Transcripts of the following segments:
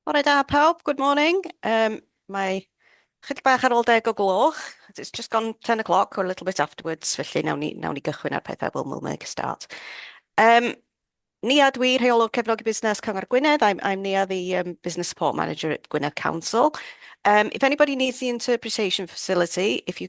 Bore da pawb, good morning. Yym mae chydig bach ar ôl deg o gloch, it's just gone ten o clock or a little bit afterwards, felly nawn ni nawn ni gychwyn ar pethau, we'll make a start. Yym Nia dw i, Rheolwr Cefnogi Busnes Cyngor Gwynedd, I'm I'm Nia the yym Business Support Manager at Gwynedd Council. Yym if anybody needs the interpretation facility, if you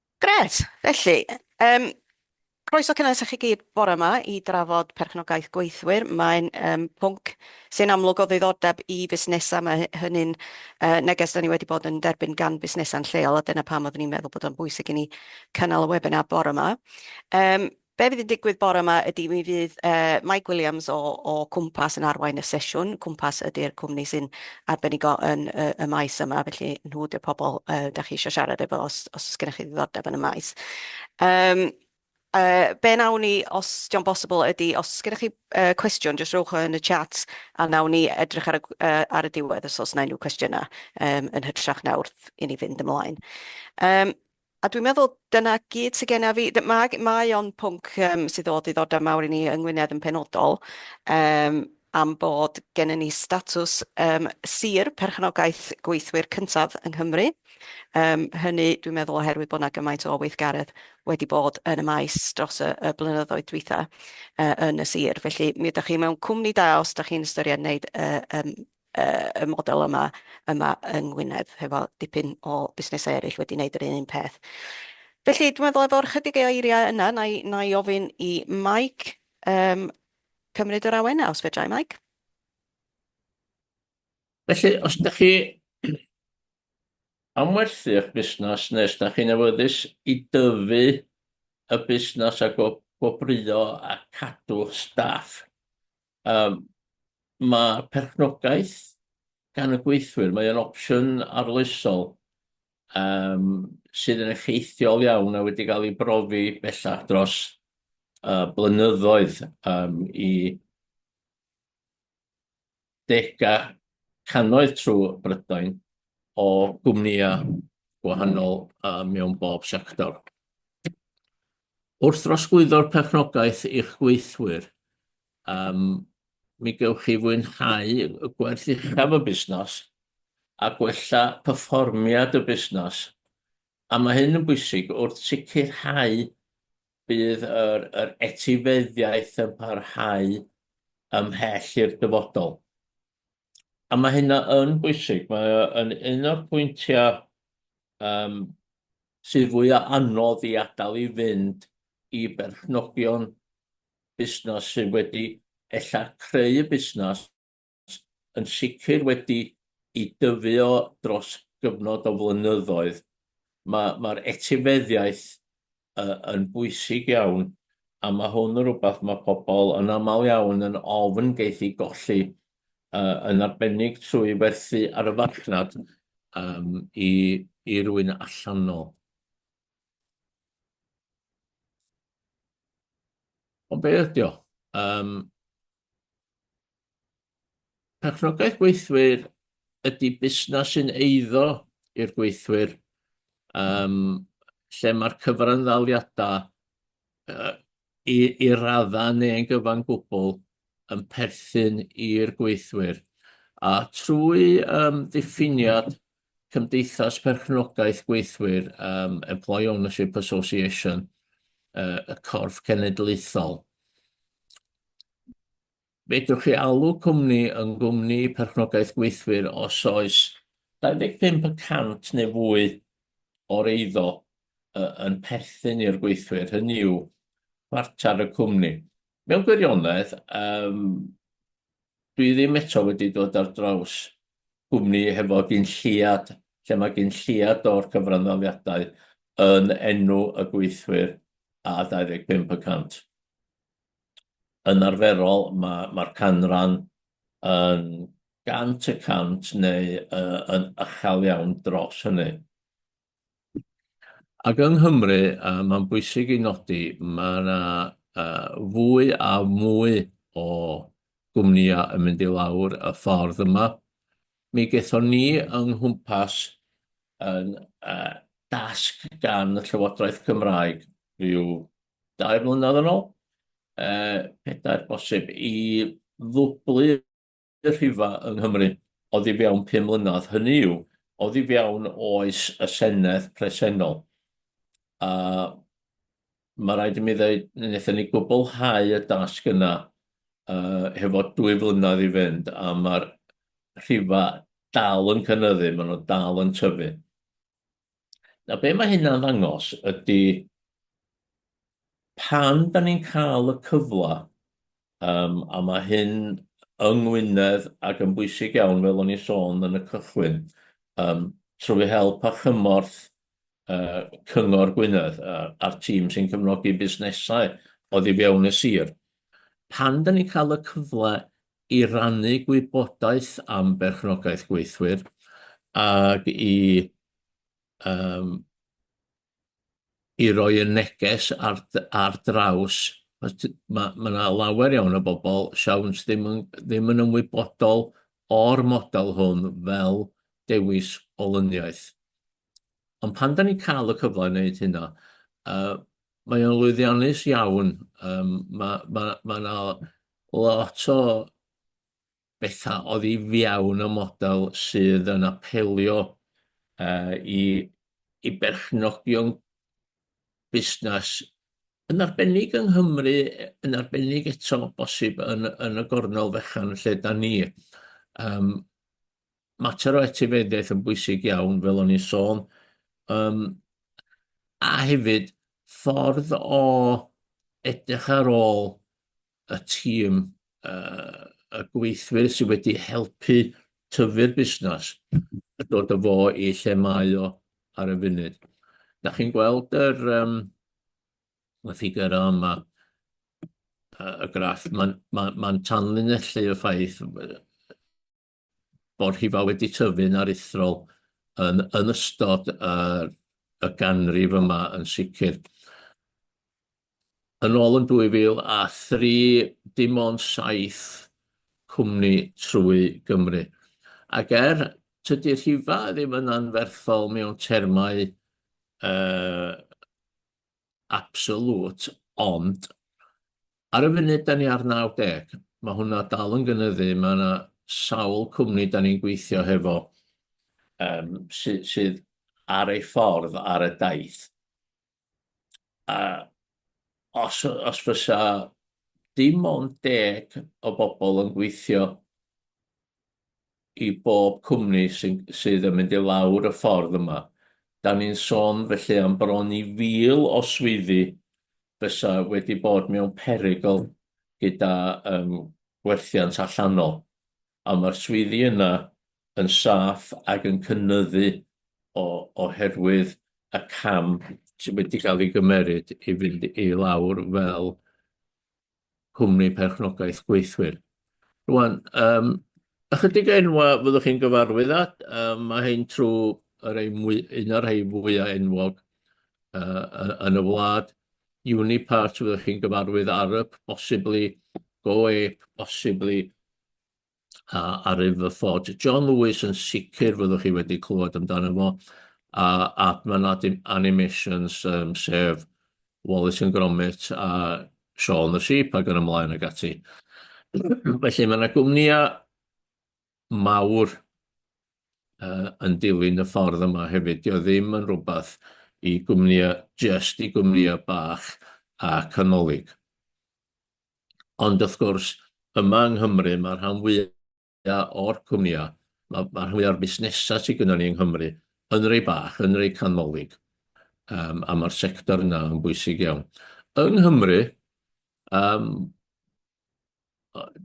Grêt! Felly, yym, croeso cynnes i chi gyd bore 'ma i drafod perchnogaeth gweithwyr. Mae'n yym pwnc sy'n amlwg o ddiddordeb i fusnesau. Mae hy- hynny'n yy neges 'dan ni wedi bod yn derbyn gan busnesau'n lleol, a dyna pam oeddwn i'n meddwl bod o'n bwysig i ni cynnal y webinar bore 'ma. Yym, Be fydd yn digwydd bore yma ydy mi fydd Mike Williams o Cwmpas yn arwain y sesiwn. Cwmpas ydy'r cwmni sy'n arbenigo yn y maes yma, felly nhw ydy'r pobl dach chi eisiau siarad efo os oes gennych chi ddiddordeb yn y maes. Be wnawn ni, os dio'n bosibl, ydy os oes gennych chi cwestiwn, jyst rhowch o yn y chat a wnawn ni edrych ar y ar y diwedd os oes 'na unrhyw cwestiynau, yn hytrach na wrth i ni fynd ymlaen. A dwi'n meddwl dyna gyd sy genna fi. D- Mae, mae o'n pwnc um, sydd o ddiddordeb mawr i ni yng Ngwynedd yn penodol um, am bod gennym ni statws um, sir perchnogaeth gweithwyr cyntaf yng Nghymru. Um, hynny, dwi'n meddwl, oherwydd bod yna gymaint o weithgaredd wedi bod yn y maes dros y, y blynyddoedd dwytha uh, yn y sir. Felly, mi ydych chi mewn cwmni da os ydych chi'n ystyried wneud uh, um, yy y model yma yma yng Ngwynedd hefo dipyn o busnesau eraill wedi wneud yr un un peth. Felly dwi'n meddwl efo'r chydig o eiriau yna na i na i ofyn i Mike yym cymryd yr awenau os fedrai Mike. Felly os ydych chi am werthu eich busnes neu os ydych chi'n awyddus i dyfu y busnes a go- gwobrwyo a cadw'ch staff Yym ma' perchnogaeth gan y gweithwyr, mae o'n opsiwn arloesol yym sydd yn effeithiol iawn a wedi ga'l 'i brofi bellach dros yy blynyddoedd yym i dega cannoedd trw Brydain. o gwmnïau gwahanol mewn bob sector. Wrth drosglwyddo'r perchnogaeth i'ch gweithwyr, mi gewch chi fwynhau y gwerth uchaf y busnes a gwella perfformiad y busnes, a mae hyn yn bwysig wrth sicrhau bydd yr etifeddiaeth yn parhau ymhell i'r dyfodol. A mae hynna yn bwysig, mae o yn un o'r pwyntiau um, sydd fwya anodd i adael i fynd i berchnogion busnes sydd wedi ella creu y busnes yn sicr wedi i dyfu o dros gyfnod o flynyddoedd. Mae'r ma etifeddiaeth yy yn bwysig iawn, a ma' hwn yn rwbath ma' pobol yn amal iawn yn ofn geith 'i golli, yy yn arbennig trwy werthu ar y farchnad yym i i rywun allanol. Ond be' ydi o? Yym. Perchnogaeth gweithwyr ydy busnes sy'n eiddo i'r gweithwyr, um, lle mae'r cyfranddaliadau uh, i, i raddau neu'n gyfan gwbl yn perthyn i'r gweithwyr. A trwy um, ddiffiniad Cymdeithas Perchnogaeth Gweithwyr, um, Employee Ownership Association, uh, y corff cenedlaethol. Fedrwch chi alw cwmni yn gwmni perchnogaeth gweithwyr os oes 25% neu fwy o'r eiddo uh, yn perthyn i'r gweithwyr, hynny yw, chwarter y cwmni. Mewn gwirionedd, um, Dwi ddim eto wedi dod ar draws cwmni hefo gyn lleiad, lle mae gyn lleiad o'r cyfranddaliadau yn enw y gweithwyr a 25 y cant. Yn arferol, mae'r ma, ma canran yn gant y cant neu uh, yn ychel iawn dros hynny. Ac yng Nghymru, a mae'n bwysig ei nodi, mae yna fwy a mwy o gwmnïau yn mynd i lawr y ffordd yma. Mi gaethon ni yng nghwmpas yn dasg gan y Llywodraeth Cymraeg rhyw dair mlynedd yn ôl, pedair bosib, i ddwblu y rhifa yng Nghymru oddi fewn pum mlynedd, hynny yw, oddi fewn oes y Senedd presennol. A mae rhaid i mi ddweud, wnaethon ni gwblhau y dasg yna uh, hefo dwy flynedd i fynd, a mae'r rhifa dal yn cynnyddu, maen nhw dal yn tyfu. Nawr, be mae hynna'n ddangos ydy pan da ni'n cael y cyfle, um, a mae hyn yng Ngwynedd ac yn bwysig iawn, fel o'n i'n sôn yn y cychwyn, um, trwy help a chymorth uh, Cyngor Gwynedd uh, a'r tîm sy'n cyfnogi busnesau oedd i fewn y sir. Pan da ni'n cael y cyfle i rannu gwybodaeth am berchnogaeth gweithwyr ac i yym i roi y neges ar d- ar draws os t- ma' ma' 'na lawer iawn o bobol siawns ddim yn ddim yn ymwybodol o'r model hwn fel dewis olyniaeth. Ond pan da ni'n cael y cyfle i wneud hynna, uh, mae o'n lwyddiannus iawn. Um, mae yna ma, ma, ma lot o bethau oedd i fiawn y model sydd yn apelio uh, i, i berchnogion busnes yn arbennig yng Nghymru, yn arbennig eto bosib yn, yn y gornel fechan lle da ni. Um, mater o etifeddiaeth yn bwysig iawn, fel o'n i'n sôn, um, a hefyd ffordd o edrych ar ôl y tîm uh, y gweithwyr sydd wedi helpu tyfu'r busnes a dod o fo i lle mae o ar y funud. Da chi'n gweld yr, um, y ffigur yma, y graff, mae'n ma, ma, ma tanlinellu y ffaith bod rhifau wedi tyfu'n aruthrol yn yn ystod yr y ganrif yma yn sicr. Yn ôl yn 2003, dim ond saith cwmni trwy Gymru. Ac er tydi rhifau ddim yn anferthol mewn termau uh, absolute, ond ar y funud da ni ar 90, mae hwnna dal yn gynyddu, mae yna sawl cwmni da ni'n gweithio hefo um, sy, sydd ar ei ffordd ar y daith. A os, os fysa dim ond deg o bobl yn gweithio i bob cwmni sy'n, sydd yn mynd i lawr y ffordd yma. Da ni'n sôn felly am bron i fil o swyddi fysa wedi bod mewn perygl gyda um, gwerthiant allanol. A mae'r swyddi yna yn saff ac yn cynnyddu o, oherwydd y cam sydd wedi cael ei gymeryd i fynd i lawr fel Cwmni Perchnogaeth Gweithwyr. Rwan, um, ychydig enwa fyddwch chi'n gyfarwydd at, um, mae hyn trwy yr ein mwy, un o'r rhai fwyaf enwog uh, yn y wlad. Unipart fyddwch chi'n gyfarwydd, Arup, bosibly, GoApe, bosibly, a Arif y Fford. John Lewis yn sicr fyddwch chi wedi clywed amdano fo, a Adman Animations, um, sef Wallace yn Gromit a Sean the Sheep ac yn ymlaen ag ati. Felly mae yna gwmnïau mawr uh, yn dilyn y ffordd yma hefyd. Dio ddim yn rhywbeth i gwmnïau, just i gwmnïau bach a canolig. Ond wrth gwrs, yma yng Nghymru, mae'r rhan fwyaf o'r cwmnïau, mae'r rhan fwyaf o'r busnesau sydd gynnon ni yng Nghymru yn rei bach, yn rei canolig, a mae'r sector yna yn bwysig iawn. Yng Nghymru,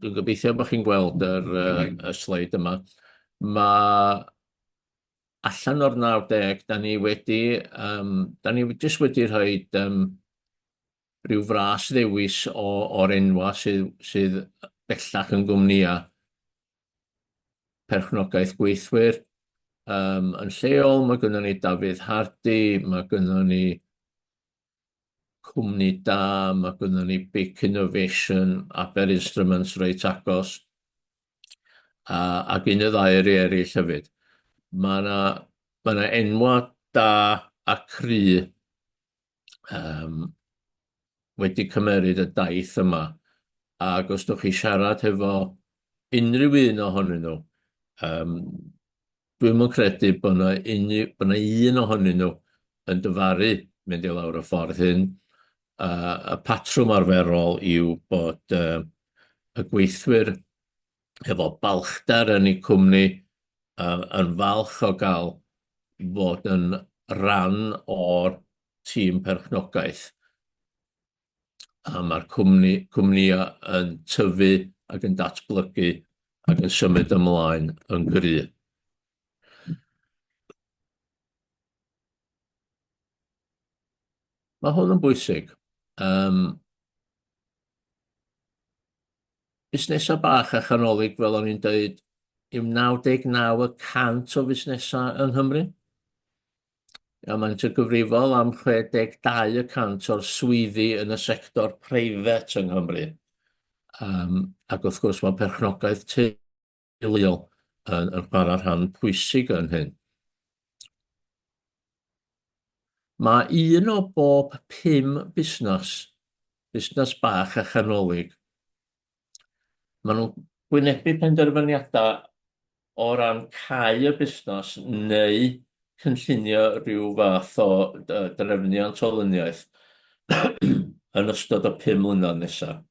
dwi'n gobeithio bod chi'n gweld y sleid yma, mae allan o'r 90, da ni wedi, da ni jyst wedi rhoi rhyw fras ddewis o, o'r enwa sydd, sydd bellach yn gwmnïa perchnogaeth gweithwyr. Um, yn lleol, mae gynnon ni Dafydd Hardy, mae gynnon ni cwmni da, mae gynnon ni Big Innovation, Aber Instruments reit agos, a, ac un y ddau yr eraill hefyd. Mae yna ma enwa da a cry um, wedi cymeryd y daith yma, ac os ydych chi siarad hefo unrhyw un ohonyn nhw, um, dwi'n mwyn credu bod yna, unrhyw, bod yna un ohonyn nhw yn dyfaru mynd i lawr y ffordd hyn. Uh, y patrwm arferol yw bod uh, y gweithwyr hefo balchder yn eu cwmni, yn falch o gael fod yn rhan o'r tîm perchnogaeth. A mae'r cwmni, cwmnïau yn tyfu ac yn datblygu ac yn symud ymlaen yn gry'. Mae hwn yn bwysig. Yym. Busnesau bach a chanolig, fel o'n i'n dweud, yw 99 y cant o fusnesau yng Nghymru, a maent yn gyfrifol am 62 y cant o'r swyddi yn y sector preifat yng Nghymru. Ac wrth gwrs, mae perchnogaeth teulu hiliol yn, yn chwarae rhan pwysig yn hyn. Mae un o bob pum busnes, busnes bach a chanolig, maen nhw'n gwynebu penderfyniadau o ran cau y busnes neu cynllunio rhyw fath o drefniant o lyniaeth yn ystod y pum mlynedd nesaf.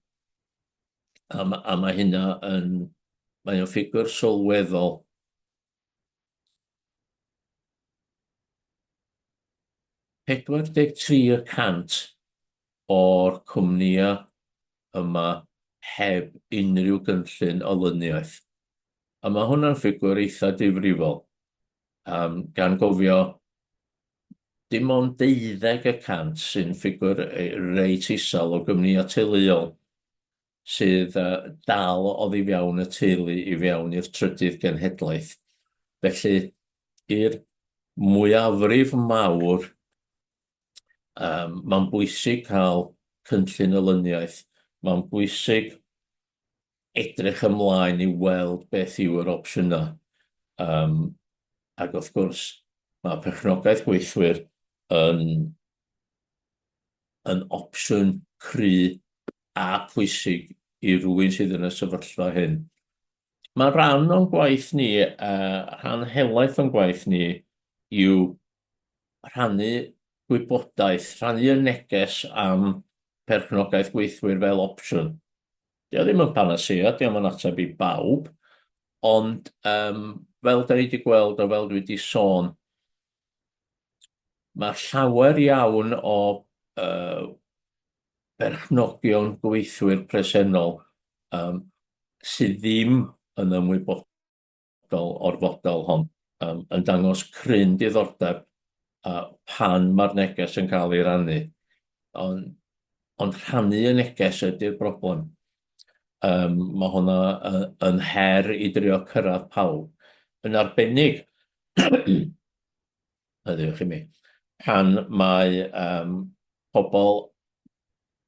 A, ma, a mae hynna yn... Mae o'n ffigwr sylweddol. Pedwar deg tri y cant o'r cwmnïau yma heb unrhyw gynllun o lyniaeth. A mae hwnna'n ffigwr eitha difrifol. Um, gan gofio dim ond deuddeg y cant sy'n ffigwr reit isel o gwmnïau teuluol sydd dal oddi fewn y teulu i fewn i'r trydydd genhedlaeth. Felly, i'r mwyafrif mawr, um, mae'n bwysig cael cynllun olyniaeth, mae'n bwysig edrych ymlaen i weld beth yw yr opsiynau. Um, ac wrth gwrs, mae perchnogaeth gweithwyr yn, yn opsiwn cry a pwysig i rywun sydd yn y sefyllfa hyn. Mae rhan o'n gwaith ni, uh, rhan helaeth o'n gwaith ni, yw rhannu gwybodaeth, rhannu y neges am perchnogaeth gweithwyr fel opsiwn. Dio ddim yn panasea, dio'm yn ateb i bawb, ond um, fel da ni wedi gweld o fel dwi wedi sôn, mae llawer iawn o uh, berchnogion gweithwyr presennol um, sydd ddim yn ymwybodol fel o'r fodel hon um, yn dangos cryn diddordeb a pan mae'r neges yn cael ei rannu. Ond, ond rhannu y neges ydy'r broblem. Um, mae hwnna uh, yn her i drio cyrraedd pawb. Yn arbennig, heddiw chi mi, pan mae um, pobl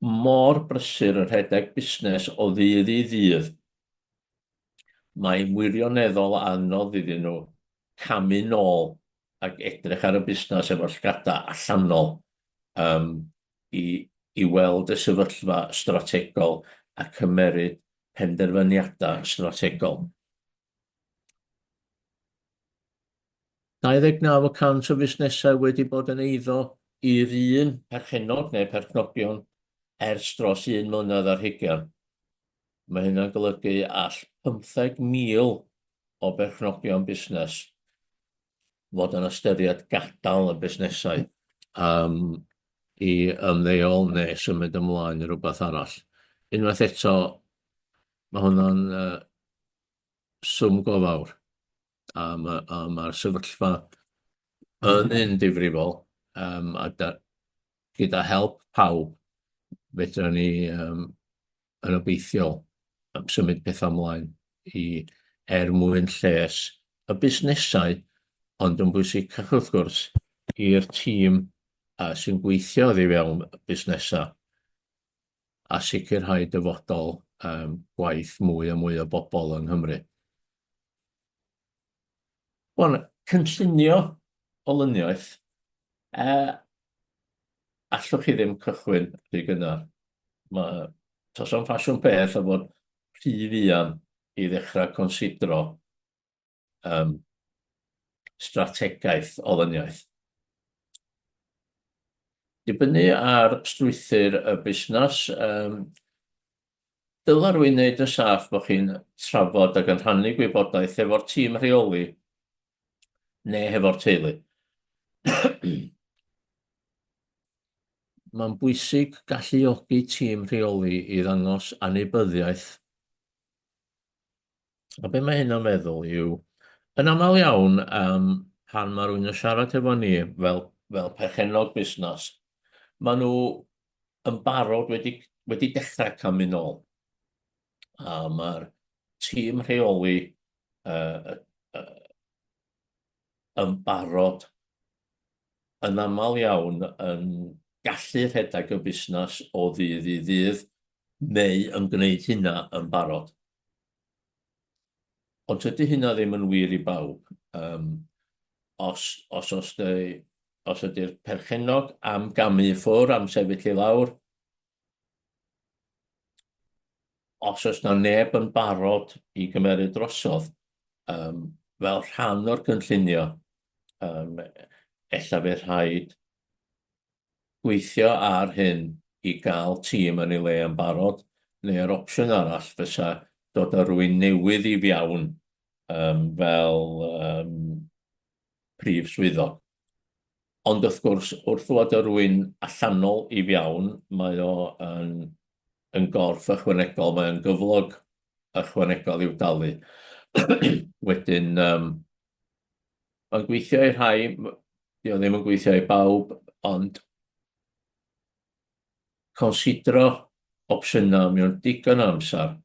mor brysur yn rhedeg busnes o ddydd i ddydd mae'n wirioneddol anodd iddyn nhw camu nôl ac edrych ar y busnes efo llgadau allanol um, i, i weld y sefyllfa strategol a cymeryd penderfyniadau strategol. 29 o cant o fusnesau wedi bod yn eiddo i'r un perchennog neu perchnogion ers dros un mlynedd ar hugain. Mae hynna'n golygu all 15,000 o berchnogion busnes fod yn ystyried gadael y busnesau am i ymddeol neu symud ymlaen i rywbeth arall. Unwaith eto, mae hwnna'n swm go fawr, a mae'r sefyllfa yn un difrifol, a gyda help pawb, fedrwn ni yn obeithiol am symud pethau ymlaen i er mwyn lles y busnesau, ond yn bwysicach wrth gwrs i'r tîm uh, sy'n gweithio oddi fewn y busnesau a sicrhau dyfodol um, gwaith mwy a mwy o bobl yng Nghymru. Wel, cynllunio olyniaeth, yy, allwch chi ddim cychwyn rhy gynnar. Mae tos o'n ffasiwn peth o fod rhy fuan i ddechrau considro um, strategaeth olyniaeth. Dibynnu ar strwythyr y busnes, um, Dyla rwy'n wneud yn saff bod chi'n trafod ac yn rhannu gwybodaeth hefo'r tîm rheoli neu hefo'r teulu. Mae'n bwysig galluogi tîm rheoli i ddangos anwybyddiaeth A be mae hyn o'n meddwl yw, yn aml iawn, um, pan mae rhywun yn siarad efo ni fel, fel perchennog busnes, maen nhw yn barod wedi, wedi dechrau camu'n ôl. A mae'r tîm rheoli uh, uh, yn barod yn aml iawn yn gallu rhedeg y busnes o ddydd i ddydd neu yn gwneud hynna yn barod. Ond tydy hynna ddim yn wir i bawb. Um, os, os, os, dy, os ydy'r perchennog am gamu ffwr, am sefyll i lawr, os oes na neb yn barod i gymeryd drosodd, um, fel rhan o'r cynllunio, um, ella fe rhaid gweithio ar hyn i gael tîm yn ei le yn barod, neu yr opsiwn arall fysa dod â rhywun newydd i fiawn yym fel yym prif swyddog. Ond wrth gwrs, wrth ddod â rhywun allanol i fiawn, mae o yn yn gorff ychwanegol, mae o'n gyflog ychwanegol i'w dalu. Wedyn yym Mae'n gweithio i rhai, dio ddim yn gweithio i bawb, ond considro opsiynau mewn digon o amser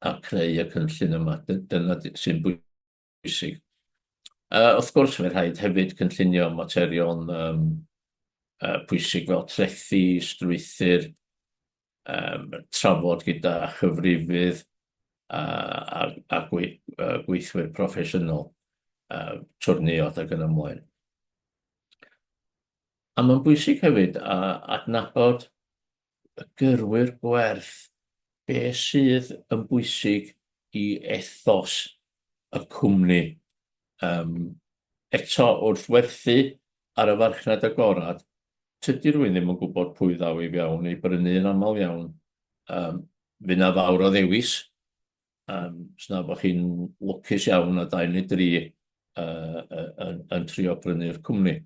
a creu y cynllun yma. Dyna sy'n bwysig. Uh, wrth gwrs, mae'n rhaid hefyd cynllunio materion um, uh, pwysig fel trethi, strwythyr, um, trafod gyda chyfrifydd a, a, a gwe, uh, gweithwyr proffesiynol, uh, twrniod ac yn ymlaen. A mae'n bwysig hefyd a adnabod y gyrwyr gwerth be sydd yn bwysig i ethos y cwmni. Um, eto wrth werthu ar y farchnad agored, tydi rhywun ddim yn gwybod pwy ddaw i fewn i brynu yn aml iawn. Um, fy na fawr o ddewis, um, sna bod chi'n lwcus iawn a dau neu dri uh, yn, yn trio brynu'r cwmni.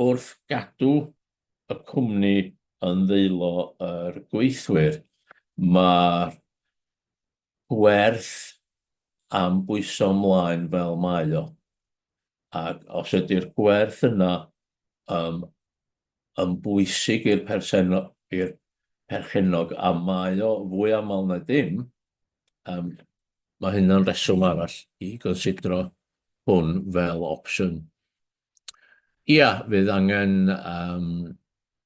Wrth gadw y cwmni yn ddeilo yr gweithwyr, mae'r werth am bwyso ymlaen fel mae o. Ac os ydy'r gwerth yna um, yn bwysig i'r perchennog, i'r perchennog a mae o fwy aml na dim, um, mae hynna'n reswm arall i gonsidro hwn fel opsiwn. Ia, fydd angen um,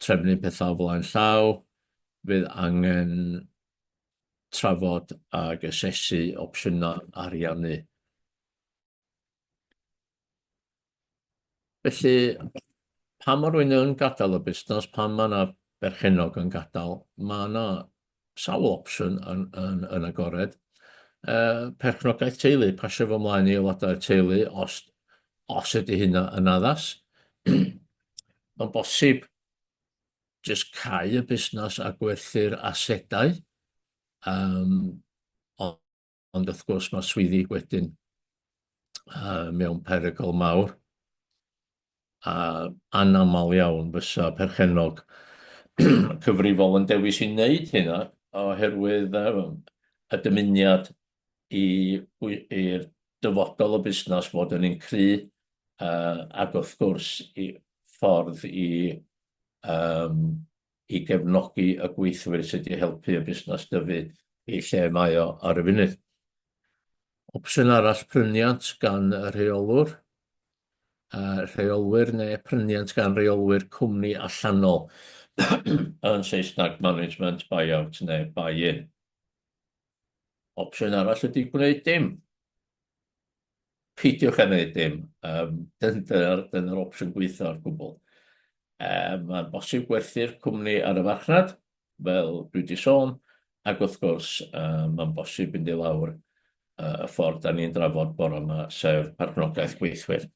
trefnu pethau o flaen llaw, fydd angen trafod ag asesu opsiynau ariannu. Felly, pan mae rhywun yn gadael y busnes, pan mae yna berchennog yn gadael, mae yna sawl opsiwn yn, yn, yn agored. Uh, perchnogaeth teulu, pasio fo mlaen i aelodau'r teulu os, os ydy hynna yn addas. Mae'n bosib jyst cau y busnes a gwerthu'r asedau, yym, ond ond wrth gwrs mae swyddi wedyn uh, mewn perygl mawr. A anaml iawn fysa perchenog cyfrifol yn dewis i wneud hynna oherwydd um, y dymuniad i'r dyfodol o busnes fod yn un cry uh, ac wrth gwrs i ffordd i um, i gefnogi y gweithwyr sydd wedi helpu y busnes dyfu i lle mae o ar y funud. Opsiwn arall pryniant gan y rheolwr, a rheolwyr neu pryniant gan reolwyr cwmni allanol yn Saesneg management buyout neu buy-in. Opsiwn arall ydy gwneud dim. peidiwch â wneud dim, um, dyna'r dyn opsiwn gweithio ar gwbl. Um, Mae'n bosib gwerthu'r cwmni ar y farchnad, fel dwi wedi sôn, ac wrth gwrs um, mae'n bosib mynd i lawr uh, y ffordd da ni'n drafod bore yma, sef partnogaeth gweithwyr.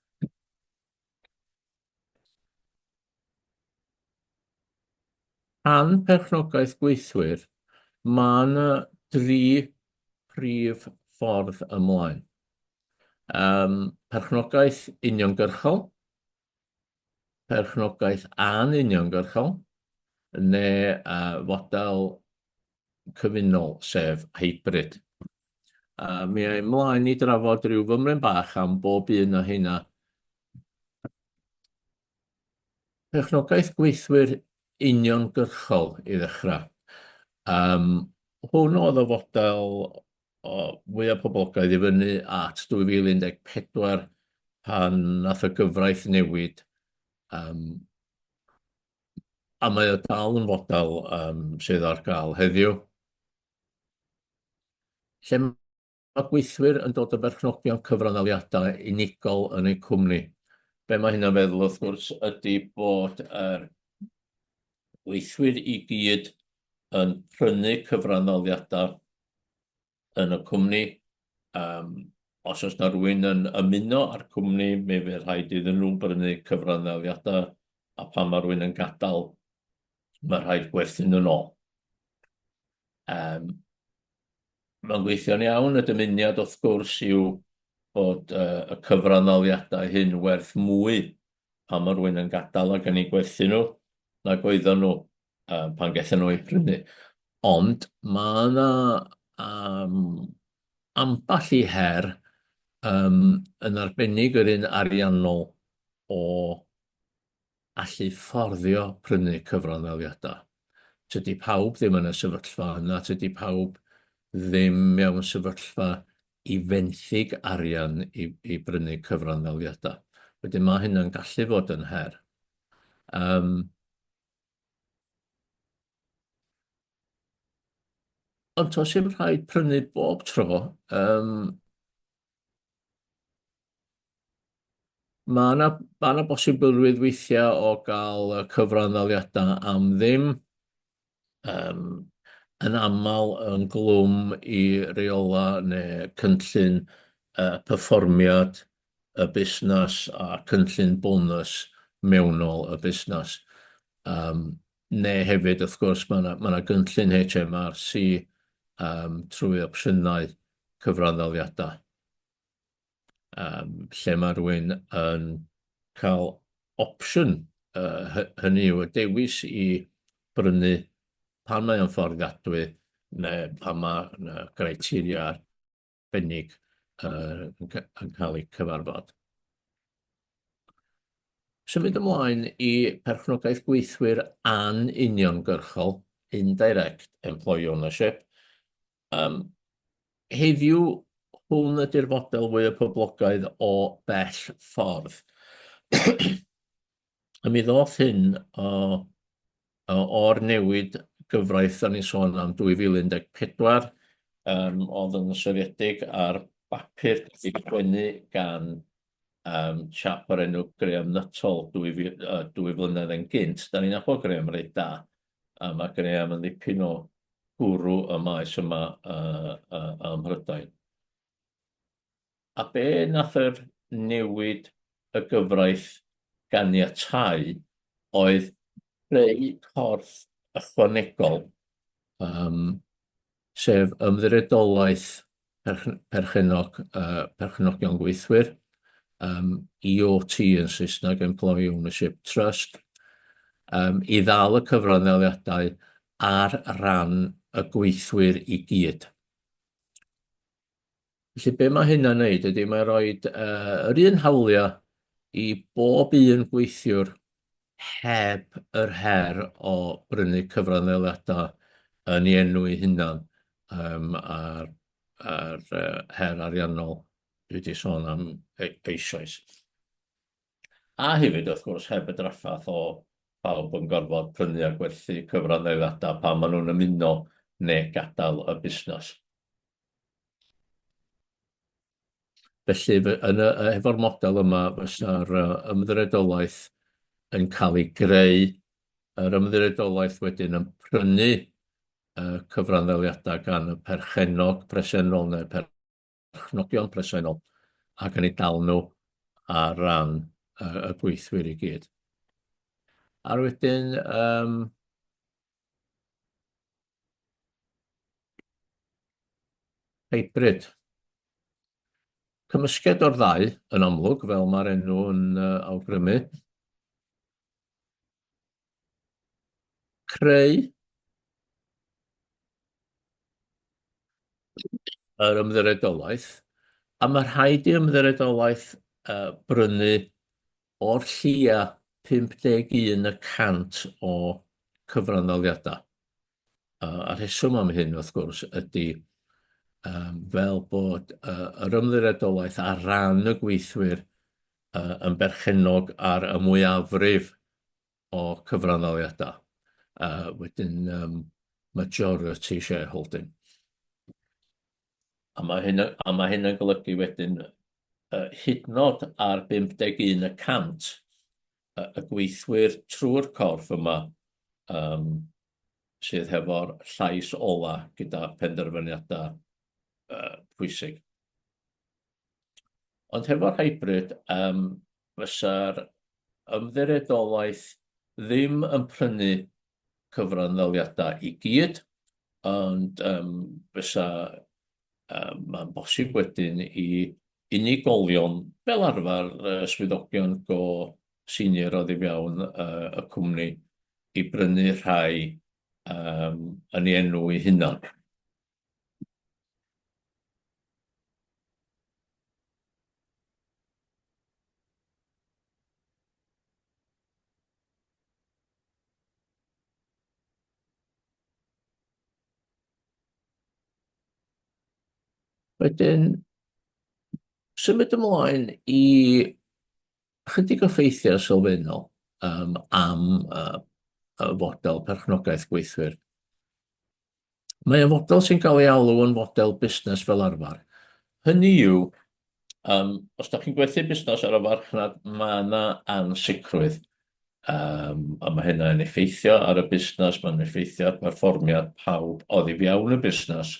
Am perchnogaeth gweithwyr, mae yna dri phrif ffordd ymlaen. Um, perchnogaeth uniongyrchol, perchnogaeth anuniongyrchol, neu uh, fodel cyfunol, sef hybrid. A mi a'i mlaen i drafod rhyw fymryn bach am bob un o hynna. Perchnogaeth gweithwyr uniongyrchol i ddechrau. Um, hwn oedd o fodel o fwyaf poblogaidd i fyny at 2014 pan nath y gyfraith newid um, A mae o dal yn fodel um, sydd ar gael heddiw. Lle mae gweithwyr yn dod o berchnogion cyfranaliadau unigol yn eu cwmni. Be mae hynna'n feddwl wrth gwrs ydy bod yr gweithwyr i gyd yn prynu cyfranaliadau yn y cwmni. Yym, os oes na rwy'n yn ymuno â'r cwmni, mi fydd rhaid iddyn nhw brynu cyfranafiadau, a phan mae rwy'n yn gadael, mae rhaid gwerthu nhw'n ôl. Yym, mae'n gweithio'n iawn, y dymuniad wrth gwrs yw bod uh, y cyfranafiadau hyn werth mwy pan mae rwy'n yn gadael ac yn ei gwerthu nhw, nag oedden nhw uh, pan gaethon nhw eu prynu. Ond mae yna um, amball i her um, yn arbennig yr un ariannol o allu fforddio prynu cyfranddaliadau. Tydy pawb ddim yn y sefyllfa yna, tydy pawb ddim mewn sefyllfa i fenthyg arian i, i brynu cyfranddaliadau. Wedyn mae hynna'n gallu fod yn her. Um, Ond tos i'n rhaid prynu bob tro, um, mae yna ma na bosibilrwydd weithiau o gael cyfran ddaliadau am ddim. Um, yn aml yn glwm i reola neu cynllun uh, perfformiad y busnes a cynllun bonws mewnol y busnes. Yym, neu hefyd, wrth gwrs, mae 'na mae 'na gynllun HMRC yym trwy opsiynau cyfranddaliadau yym lle mae rhywun yn cael opsiwn, yy hy- hynny yw y dewis i brynu pan mae o'n fforddiadwy neu pan mae 'na griteria arbennig yn cael eu cyfarfod. Symud ymlaen i perchnogaeth gweithwyr anuniongyrchol, indirect employee ownership. Heddiw, hwn ydy'r fodel fwyaf poblogaidd o bell ffordd. a mi ddoth hyn o, o, o'r newid gyfraith da ni'n sôn am 2014, um, oedd yn soriedig ar bapur wedi gwenu gan um, chap o'r enw Graham Nuttall dwy, uh, dwy flynedd yn gynt. Da ni'n nabod Graham reit da, a mae Graham yn ddipyn o gwrw y maes yma uh, uh, ym Mhrydain. A be nath yr newid y gyfraith ganiatáu oedd creu corff ychwanegol, yym, sef Ymddiriedolaeth Perchennog yy Perchenogion Gweithwyr, yym, EOT yn Saesneg, Employee Ownership Trust, yym, i ddal y cyfranddaliadau ar ran y gweithwyr i gyd. Felly be mae hynna'n wneud ydy mae rhoi uh, yr un hawliau i bob un gweithiwr heb yr her o brynu cyfranddeliadau yn ei enw ei hunan um, a'r, ar uh, her ariannol dwi wedi sôn am e-, eisoes. A hefyd, wrth gwrs, heb y draffath o bawb yn gorfod prynu a gwerthu cyfranddeliadau pan maen nhw'n ymuno neu gadael y busnes. Felly, efo'r model yma, fysa'r Ymddiriedolaeth yn cael ei greu, yr Ymddiriedolaeth wedyn yn prynu cyfranddaliadau gan y perchennog presennol neu'r perchnogion presennol ac yn eu dal nhw ar ran y gweithwyr i gyd. A'r wedyn, Hybrid. Cymysgedd o'r ddau, yn amlwg, fel mae'r enw yn uh, awgrymu. Creu yr ymddyredolaeth, a mae rhaid i ymddyredolaeth uh, brynu O'r lleia 51 y cant o cyfranddaliadau. A rheswm am hyn, wrth gwrs, ydy fel bod yr ymddiriedolaeth ar ran y gweithwyr yn berchennog ar y mwyafrif o cyfranddaliadau. Wedyn, majority shareholding. A mae hyn yn, a mae hyn yn golygu wedyn uh, hydnod ar 51 y cant uh, y gweithwyr trwy'r corff yma um, sydd hefo'r llais ola gyda penderfyniadau uh, pwysig. Ond hefo'r hybrid, um, fysa'r ymddiriedolaeth ddim yn prynu cyfranddaliadau i gyd, ond um, fysa, um, mae'n bosib wedyn i unigolion, fel arfer uh, swyddogion go senior o ddifewn uh, y cwmni, i brynu rhai um, yn ei enw ei hunan. Wedyn, symud ymlaen i chydig o ffeithiau sylfaenol um, am uh, y fodel perchnogaeth gweithwyr. Mae y fodel sy'n cael ei alw yn fodel busnes fel arfer. Hynny yw, um, os da chi'n gwerthu busnes ar y farchnad, mae yna ansicrwydd. Um, a mae hynna yn effeithio ar y busnes, mae'n effeithio ar berfformiad pawb oedd i fiawn y busnes.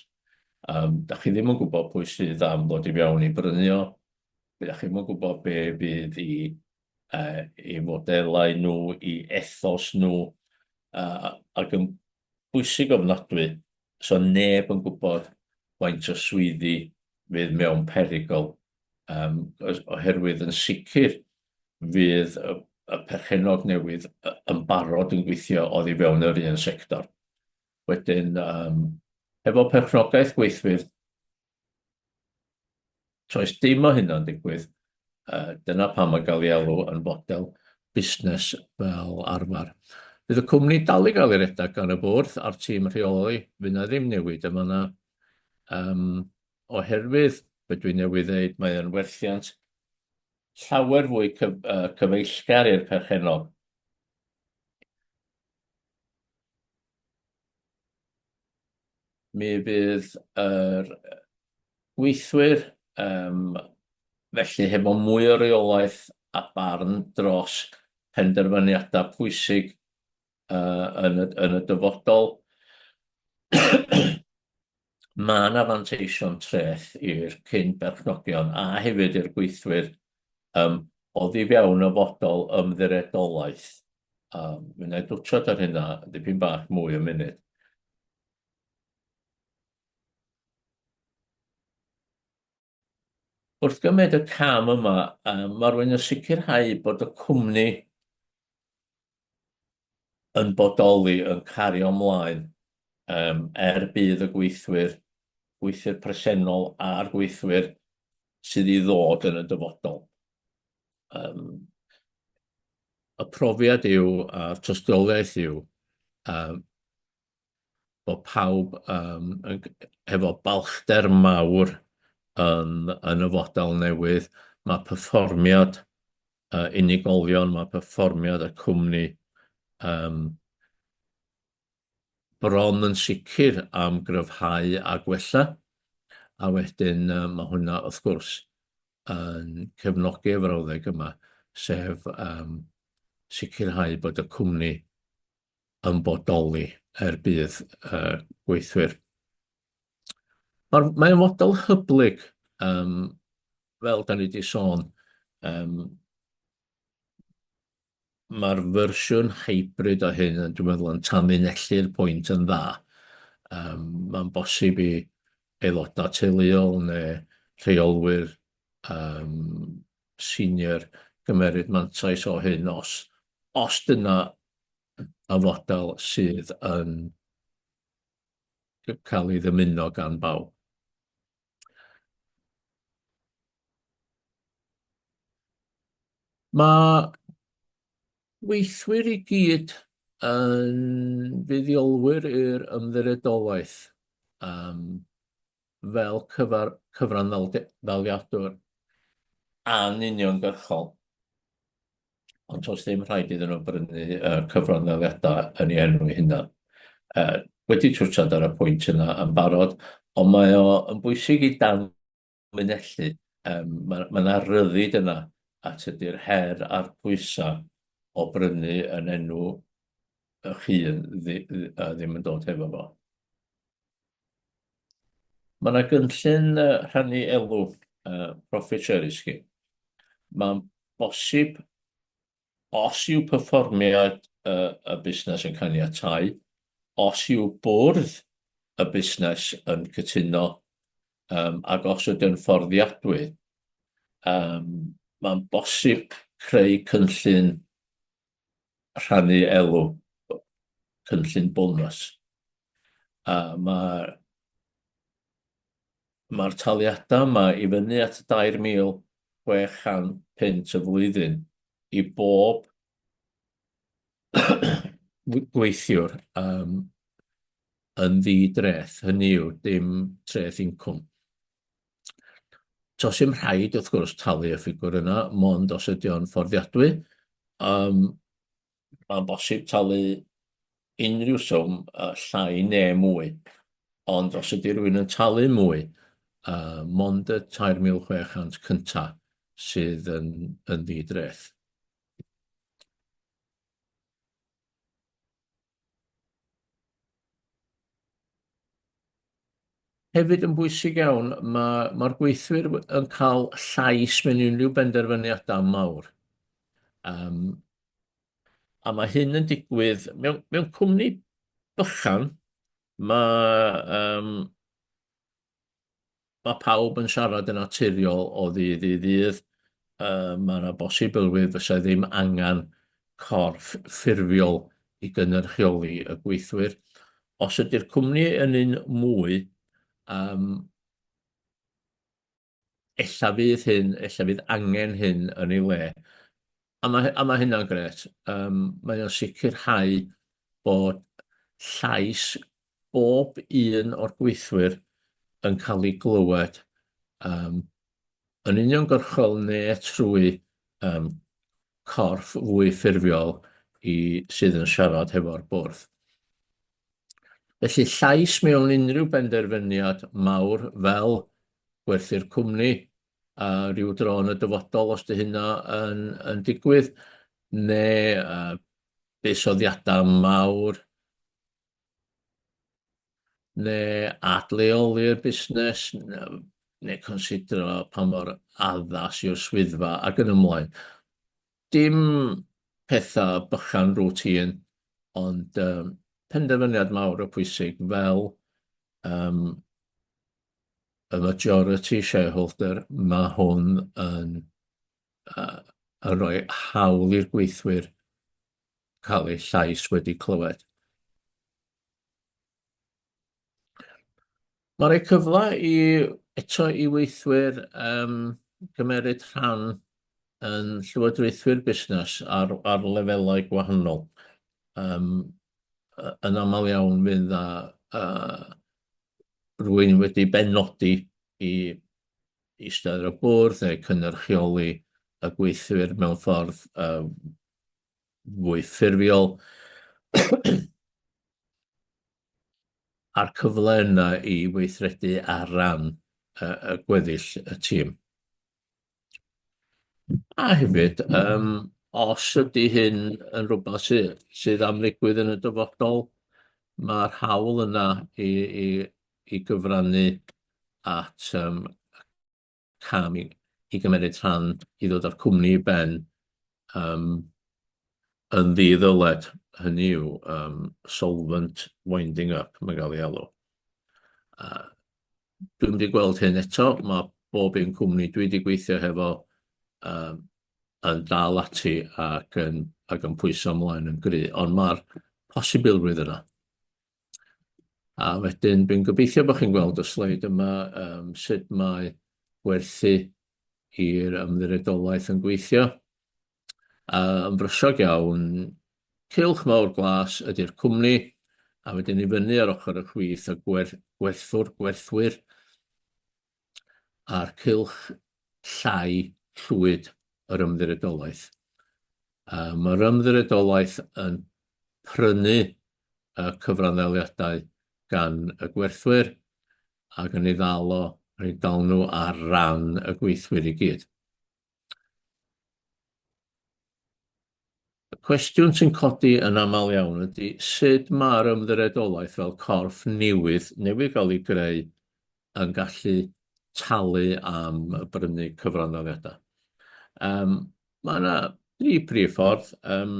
Um, da chi ddim yn gwybod pwy sydd am ddod i fiawn i brynu o, da chi ddim yn gwybod be fydd i, uh, i fodelau nhw, i ethos nhw, uh, ac yn bwysig ofnadwy so neb yn gwybod faint o swyddi fydd mewn perygl yym oherwydd yn sicr fydd y y perchennog newydd y- yn barod yn gweithio oddi fewn yr un sector. Wedyn yym efo perchnogaeth gweithwyr Toes dim o hynna'n digwydd, dyna pam mae gael ei alw yn fodel busnes fel arfer. Bydd y cwmni dal i gael ei redeg gan y bwrdd a'r tîm rheoli, fydd yna ddim newid yn fan'na. Yym, oherwydd be' dwi newydd ddeud, mae o'n werthiant llawer fwy cyf- yy cyfeillgar i'r perchennog. Mi fydd yr gweithwyr, yym, felly hefo mwy o reolaeth a barn dros penderfyniada pwysig, yy, yn y yn y dyfodol. ma' 'na fanteision treth i'r cyn berchnogion a hefyd i'r gweithwyr yym oddi fewn y fodel ymddiredolaeth. Yym mi wna i dwtsiad ar hynna dipyn bach mwy yn munud. Wrth gymryd y cam yma, mae rwy'n yn sicrhau bod y cwmni yn bodoli, yn cario ymlaen, er budd y gweithwyr, gweithwyr presennol a'r gweithwyr sydd i ddod yn y dyfodol. Y profiad yw, a'r tystiolaeth yw, bod pawb yym yn g- efo balchder mawr yn yn y fodel newydd. Ma' perfformiad yy unigolion, ma' perfformiad y cwmni yym bron yn sicr am gryfhau a gwella, a wedyn yy ma' hwnna wrth gwrs yn cefnogi y frawddeg yma, sef yym sicrhau bod y cwmni yn bodoli er budd y gweithwyr. Mae'r mae model hyblyg um, fel da ni wedi sôn, um, mae'r fersiwn hybrid o hyn yn dwi'n meddwl yn tanlinellu'r pwynt yn dda. Um, Mae'n bosib i aelodau teuluol neu rheolwyr um, senior gymeryd mantais o hyn os os dyna y fodel sydd yn cael ei ddymuno gan bawb. Mae weithwyr i gyd yn fuddiolwyr i'r ymddiriedolaeth. Um, fel cyfar cyfranddaliadwr an uniongyrchol, ond toes ddim rhaid iddyn nhw brynu y cyfranddaliadau yn ei enw ei hunan. Yy, wedi twtshad ar y pwynt yna yn barod, ond mae o yn bwysig i danlinellu, yym, ma' ma' 'na ryddid yna a tydi'r her a'r pwysau o brynu yn enw eich hun ddi- ddi- yy ddim yn dod hefo fo. Mae yna gynllun rhannu elw, profit sharing scheme. Mae'n bosib, os yw perfformiad y busnes yn caniatáu, os yw bwrdd y busnes yn cytuno, ac os ydyw'n fforddiadwy, mae'n bosib creu cynllun rhannu elw cynllun bonws. A mae'r mae taliadau yma i fyny at 2,600 pint y flwyddyn i bob gweithiwr um, yn ddi-dreth, hynny yw dim treth incwm. Tos dim rhaid, wrth gwrs, talu y ffigwr yna, mond os ydy o'n fforddiadwy. Um, Mae'n bosib talu unrhyw swm uh, llai ne mwy, ond os ydy rhywun yn talu mwy, uh, mond y 3,600 cynta sydd yn, yn ddi-dreth. Hefyd yn bwysig iawn, mae'r ma, ma gweithwyr yn cael llais mewn unrhyw benderfyniadau mawr. Um, a mae hyn yn digwydd mewn, mewn cwmni bychan, mae um, Mae pawb yn siarad yn naturiol o ddydd i ddydd. Uh, mae yna bosibilrwydd fysa ddim angen corff ffurfiol i gynrychioli y gweithwyr. Os ydy'r cwmni yn un mwy, um, ella fydd hyn, ella fydd angen hyn yn ei le. A mae, a mae hynna'n gret. Um, mae o'n sicrhau bod llais bob un o'r gweithwyr yn cael ei glywed yym yn uniongyrchol ne' trwy yym corff fwy ffurfiol i sydd yn siarad hefo'r bwrdd. Felly llais mewn unrhyw benderfyniad mawr fel gwerthu'r cwmni a ryw dro yn y dyfodol os 'di hynna yn yn digwydd ne' yy buddsoddiada mawr neu adleoli'r busnes, neu considro pa mor addas yw'r swyddfa ac yn ymlaen. Dim petha bychan routine, ond um, penderfyniad mawr o pwysig fel um, y majority shareholder, mae hwn yn, uh, yn rhoi hawl i'r gweithwyr cael ei llais wedi clywed. Mae rhoi cyfle i eto i weithwyr um, gymeryd rhan yn llywodraethwyr busnes ar, ar lefelau gwahanol. Um, yn aml iawn fydd a, a rwy'n wedi benodi i eistedd ar y bwrdd neu cynnyrchioli y gweithwyr mewn ffordd um, fwy ffurfiol a'r cyfle yna i weithredu ar ran y, y gweddill y tîm. A hefyd, um, os ydy hyn yn rhywbeth sy, sydd am ddigwydd yn y dyfodol, mae'r hawl yna i, i, i gyfrannu at um, cam i, i gymryd rhan i ddod â'r cwmni i ben um, yn ddi-ddyled, hynny yw um, solvent winding up, mae'n gael ei alw. Uh, dwi'n wedi gweld hyn eto, mae bob un cwmni dwi wedi gweithio hefo um, yn dal ati ac yn, ac yn pwyso ymlaen yn gry, ond mae'r posibilrwydd yna. A wedyn, dwi'n gobeithio bod chi'n gweld y sleid yma, yym, sut mae gwerthu i'r Ymddiriedolaeth yn gweithio. A yn brysog iawn, cylch mawr glas ydy'r cwmni, a wedyn i fyny ar ochr y chwith, y gwer- gwerthwr, gwerthwyr, a'r cylch llai llwyd yr Ymddiriedolaeth. Um, mae'r Ymddiriedolaeth yn prynu y cyfranddaliadau gan y gwerthwyr ac yn ei ddal o, yn ei dal nhw ar ran y gweithwyr i gyd. Y cwestiwn sy'n codi yn aml iawn ydy sut mae'r ymddiriedolaeth fel corff newydd newydd gael ei greu yn gallu talu am brynu cyfranddaliadau. Yym, mae 'na dri prif ffordd. Yym,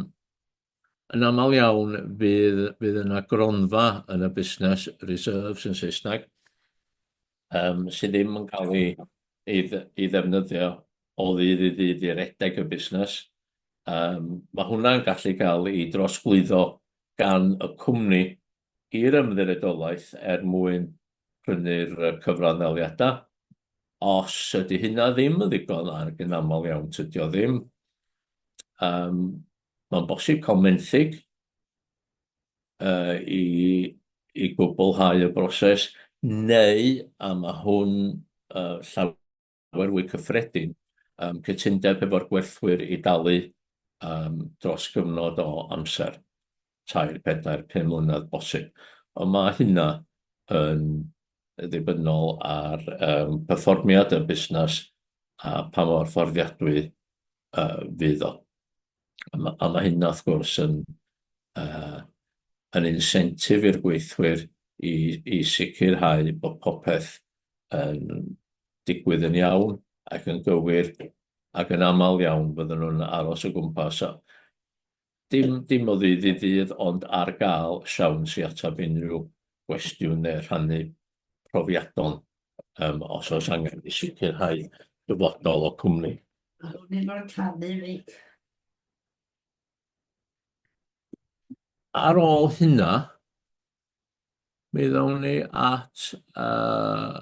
Yn aml iawn bydd, bydd yna gronfa yn y busnes, reserves yn Saesneg, um, sydd ddim yn cael ei, ei, ei ddefnyddio o ddydd i ddydd i redeg y busnes. Um, mae hwnna'n gallu cael ei drosglwyddo gan y cwmni i'r ymddiredolaeth er mwyn prynu'r cyfranddaliadau. Os ydy hynna ddim yn ddigon, ac yn aml iawn tydio ddim, um, Mae'n bosib cael menthyg yy i i gwblhau y broses neu, a ma' hwn yy llaw- wer fwy cyffredin, yym cytundeb hefo'r gwerthwyr i dalu yym dros gyfnod o amser. tair, pedair, pum mlynedd bosib. Ond mae hynna yn ddibynnol ar um, perfformiad y busnes a pa mor fforddiadwy uh, fydd o. A mae, a mae hynna, wrth gwrs, yn, uh, yn insentif i'r gweithwyr i, i sicrhau bod popeth yn digwydd yn iawn ac yn gywir ac yn aml iawn byddwn nhw'n aros o gwmpas. Dim, dim o ddydd i ddydd, ond ar gael siawns i ateb unrhyw gwestiwn neu rhannu profiadon um, os oes angen i sicrhau dyfodol o cwmni. A nhw'n un o'r canu fi. Ar ôl hynna, Mi ddown ni at uh,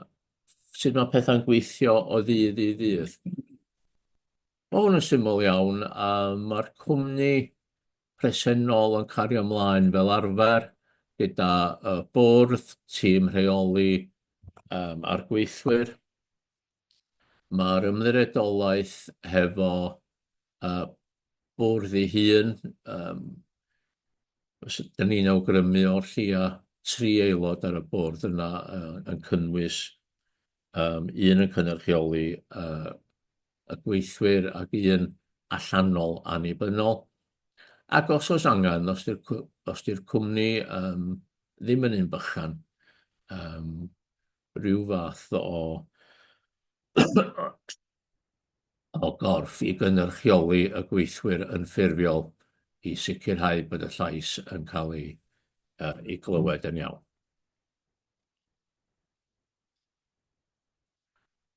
sut mae pethau'n gweithio o ddydd i ddydd. Mae hwn yn syml iawn, a mae'r cwmni presennol yn cario ymlaen fel arfer gyda y bwrdd, tîm rheoli um, a'r gweithwyr. Mae'r Ymddiriedolaeth hefo bwrdd ei hun, dan ni'n awgrymu o'r lleia tri aelod ar y bwrdd yna yn cynnwys un yn cynrychioli y gweithwyr ac un allanol annibynnol. Ac os oes angen, os ydy'r cwmni ddim yn un bychan, rhyw fath o o gorff i gynrychioli y gweithwyr yn ffurfiol i sicrhau bod y llais yn cael ei, uh, ei glywed yn iawn.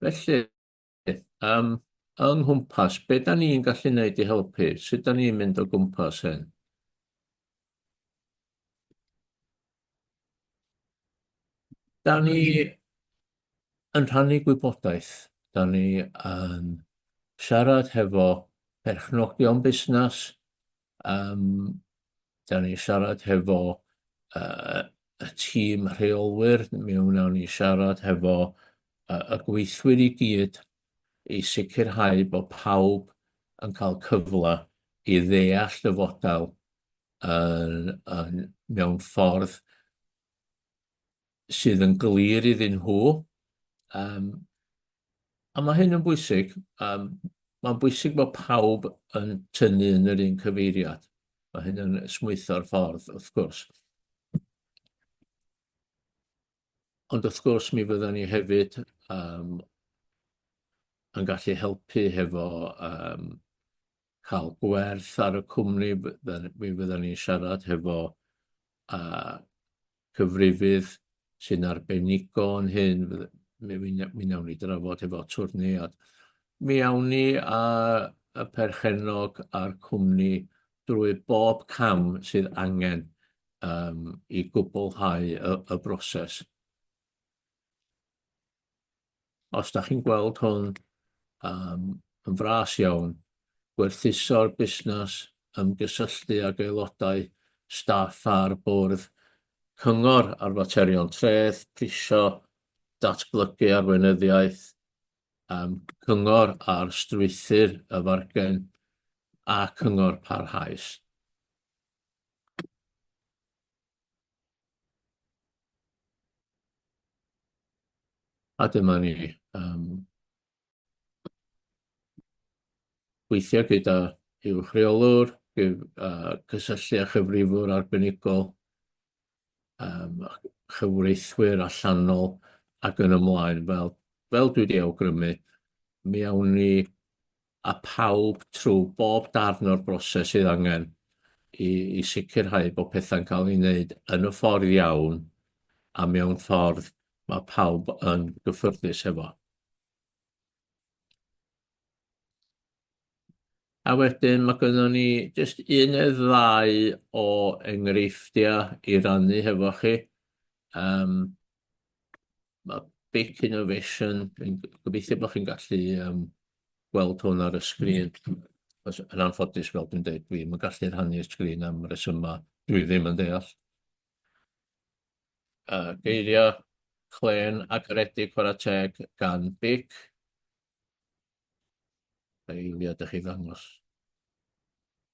Felly, Yym, yng nghwmpas, be da ni'n gallu neud i helpu? Sut da ni'n mynd o gwmpas hyn? Da ni yn rhannu gwybodaeth, da ni yn siarad hefo perchnogion busnes, Yym, da ni siarad hefo uh, y tîm rheolwyr, mi wnawn ni siarad hefo uh, y gweithwyr i gyd i sicrhau bod pawb yn cael cyfle i ddeall y fodel yn, yn, mewn ffordd sydd yn glir iddyn nhw. Um, a mae hyn yn bwysig. Um, mae'n bwysig bod pawb yn tynnu yn yr un cyfeiriad. Mae hyn yn smwytho'r ffordd, wrth gwrs. Ond wrth gwrs, mi fyddwn ni hefyd um, yn gallu helpu hefo um, cael gwerth ar y cwmni, mi fyddan ni'n siarad hefo cyfrifydd sy'n arbenigo yn hyn, mi nawn ni drafod hefo twrnei, a mi awn ni â y perchennog a'r cwmni drwy bob cam sydd angen i gwblhau y broses. Os da chi'n gweld hwn um, yn fras iawn, gwerthuso'r busnes ymgysylltu ag aelodau staff a'r bwrdd cyngor ar faterion treth, prisio, datblygu arweinyddiaeth, um, cyngor ar strwythyr y fargen a cyngor parhaus. A dyma ni. Um, weithio gyda i'w rheolwr, uh, cysylltu â chyfrifwr arbenigol, um, chyfreithwyr allanol ac yn ymlaen. Fel, fel dwi wedi awgrymu, mi awn ni â phawb trwy bob darn o'r broses sydd angen i i sicrhau bod pethau'n cael ei wneud yn y ffordd iawn a mewn ffordd mae pawb yn gyffyrddus efo. A wedyn mae gynnon ni jyst un neu ddau o enghreifftiau i rannu hefo chi. Um, ma' Big Innovation yn g- gobeithio bo' chi'n gallu yym gweld hwn ar y sgrin os yn anffodus fel dwi'n deud dwi'm yn gallu rhannu'r sgrin am resyma dwi ddim yn deall. Yy geiria clên a garedig chwara teg gan Big. Eiliad i chi ddangos.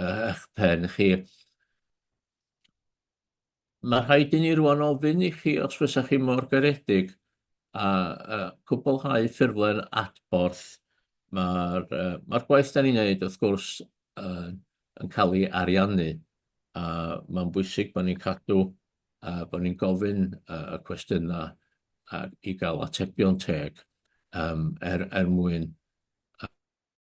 ych pen chi. Mae rhaid i ni rwan ofyn i chi os fysa chi mor garedig a uh, cwblhau ffurflen adborth. Mae'r uh, ma gwaith da ni'n neud wrth gwrs uh, yn cael ei ariannu a mae'n bwysig bod ni'n cadw uh, bod ni'n gofyn uh, y cwestiynau uh, i gael atebion teg um, er, er mwyn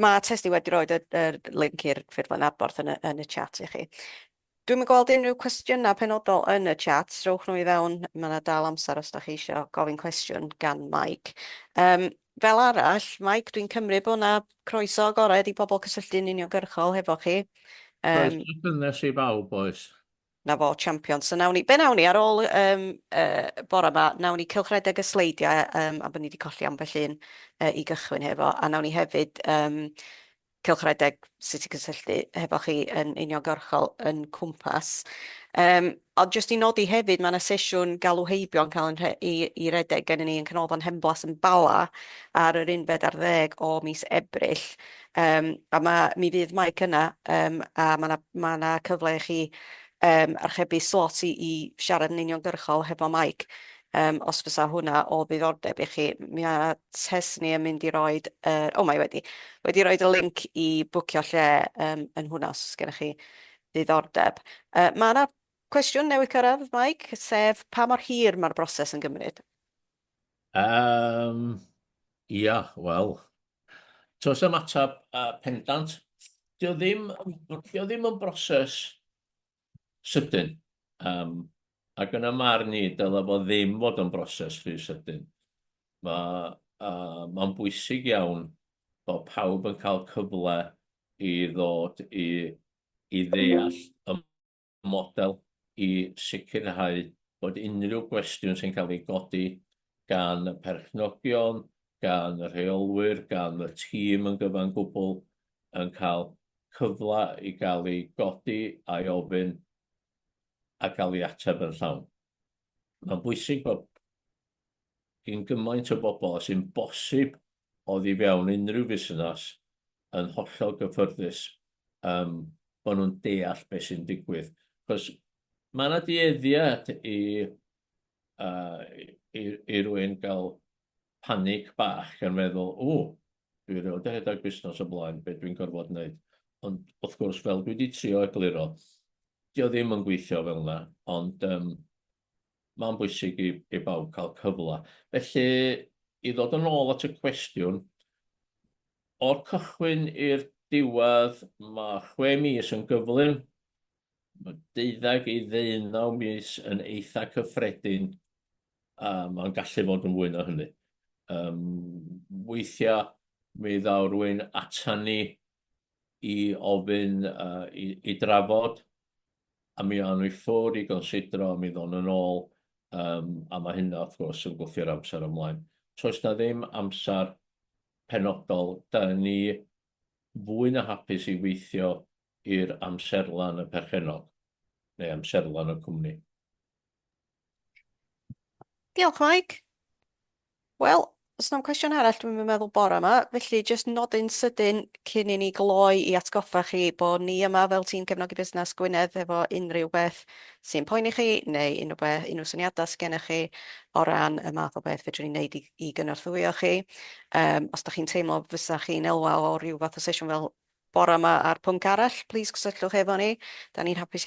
Mae Testi wedi rhoi y, y link i'r ffurflen adborth yn y, yn y chat i chi. Dwi'n yn gweld unrhyw cwestiynau penodol yn y chat, rhowch nhw i fewn, mae yna dal amser os da chi eisiau gofyn cwestiwn gan Mike. Um, fel arall, Mike, dwi'n cymryd bod yna croeso agored i bobl cysylltu'n uniongyrchol hefo chi. Um, Croeso cynnes i bawb, oes. 'Na fo, champion. So nawn ni... Be nawn ni, ar ôl yym y bore 'ma, nawn ni cylchredeg y sleidiau yym am bod ni 'di colli ambell un yy i gychwyn hefo, a nawn ni hefyd yym cylchredeg sut i gysylltu hefo chi yn uniongyrchol yn Cwmpas. Yym, ond jyst i nodi hefyd, ma' 'na sesiwn galw heibio yn cael yn rhe- i i redeg gennyn ni yn Canolfan Henblas yn Bala ar yr unfed ar ddeg o mis Ebrill. Yym a ma' mi fydd Mike yna yym a ma' 'na ma' 'na cyfle i chi yym archebu slot i i siarad yn uniongyrchol hefo Mike yym os fysa hwnna o ddiddordeb i chi. M- mi a- test ni yn mynd i roid yy o mae wedi wedi roid y linc i bwcio lle yym yn hwnna os gennych chi ddiddordeb. Yy ma' 'na cwestiwn newydd cyrradd Mike sef pa mor hir ma'r broses yn gymryd? Um, ia, wel, tos am atab uh, pendant, dio ddim, dio ddim yn broses sydyn. Um, ac yn y marn ni, dyla fo ddim fod yn broses rhy sydyn. Mae uh, ma bwysig iawn bod pawb yn cael cyfle i ddod i, i ddeall y model i sicrhau bod unrhyw gwestiwn sy'n cael ei godi gan y perchnogion, gan y rheolwyr, gan y tîm yn gyfan gwbl, yn cael cyfle i gael ei godi a'i ofyn a gael ei ateb yn llawn. Mae'n bwysig bod gyn gymaint o bobl â sy'n bosib oddi fewn unrhyw fusnes yn hollol gyffyrddus yym bo' nhw'n deall be' sy'n digwydd. Achos ma' 'na dueddiad i yy i i rywun ga'l panic bach gan feddwl, ww, dwi erioed 'di rhedag busnes o blaen, be' dwi'n gorfod neud? Ond wrth gwrs, fel dwi 'di trio egluro, 'di o ddim yn gweithio fel 'na, ond yym mae'n bwysig i, i bawb cael cyfle. Felly, i ddod yn ôl at y cwestiwn, o'r cychwyn i'r diwedd, mae chwe mis yn gyflym, mae deuddeg i ddeunaw mis yn eitha cyffredin, a mae'n gallu fod yn fwy na hynny. Um, weithiau, mi ddaw rwy'n atan ni i ofyn i drafod, a mi awn nhw i ffwrdd i gonsidro, a mi ddown nhw'n ôl, a mae hynna wrth gwrs yn gwthio'r amser ymlaen. So oes 'na ddim amser penodol, 'da ni fwy na hapus i weithio i'r amserlen y perchennog, neu amserlen y cwmni. Diolch, Mike. Wel, os na'm cwestiwn arall dwi'm yn meddwl bore yma, felly jyst nodyn sydyn cyn i ni gloi i atgoffa chi bo ni yma fel tîm Cefnogi Busnes Gwynedd efo unrhyw beth sy'n poeni chi neu unrhyw be- unrhyw syniada sgennych chi o ran y math o beth fedrwn ni neud i i gynorthwyo chi. Yym, os 'dach chi'n teimlo fysa chi'n elwa o ryw fath o sesiwn fel bore yma a'r pwnc arall, plîs cysylltwch efo ni. 'Dan ni'n hapus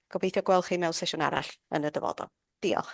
Gobeithio gweld chi mewn sesiwn arall yn y dyfodol. Diolch.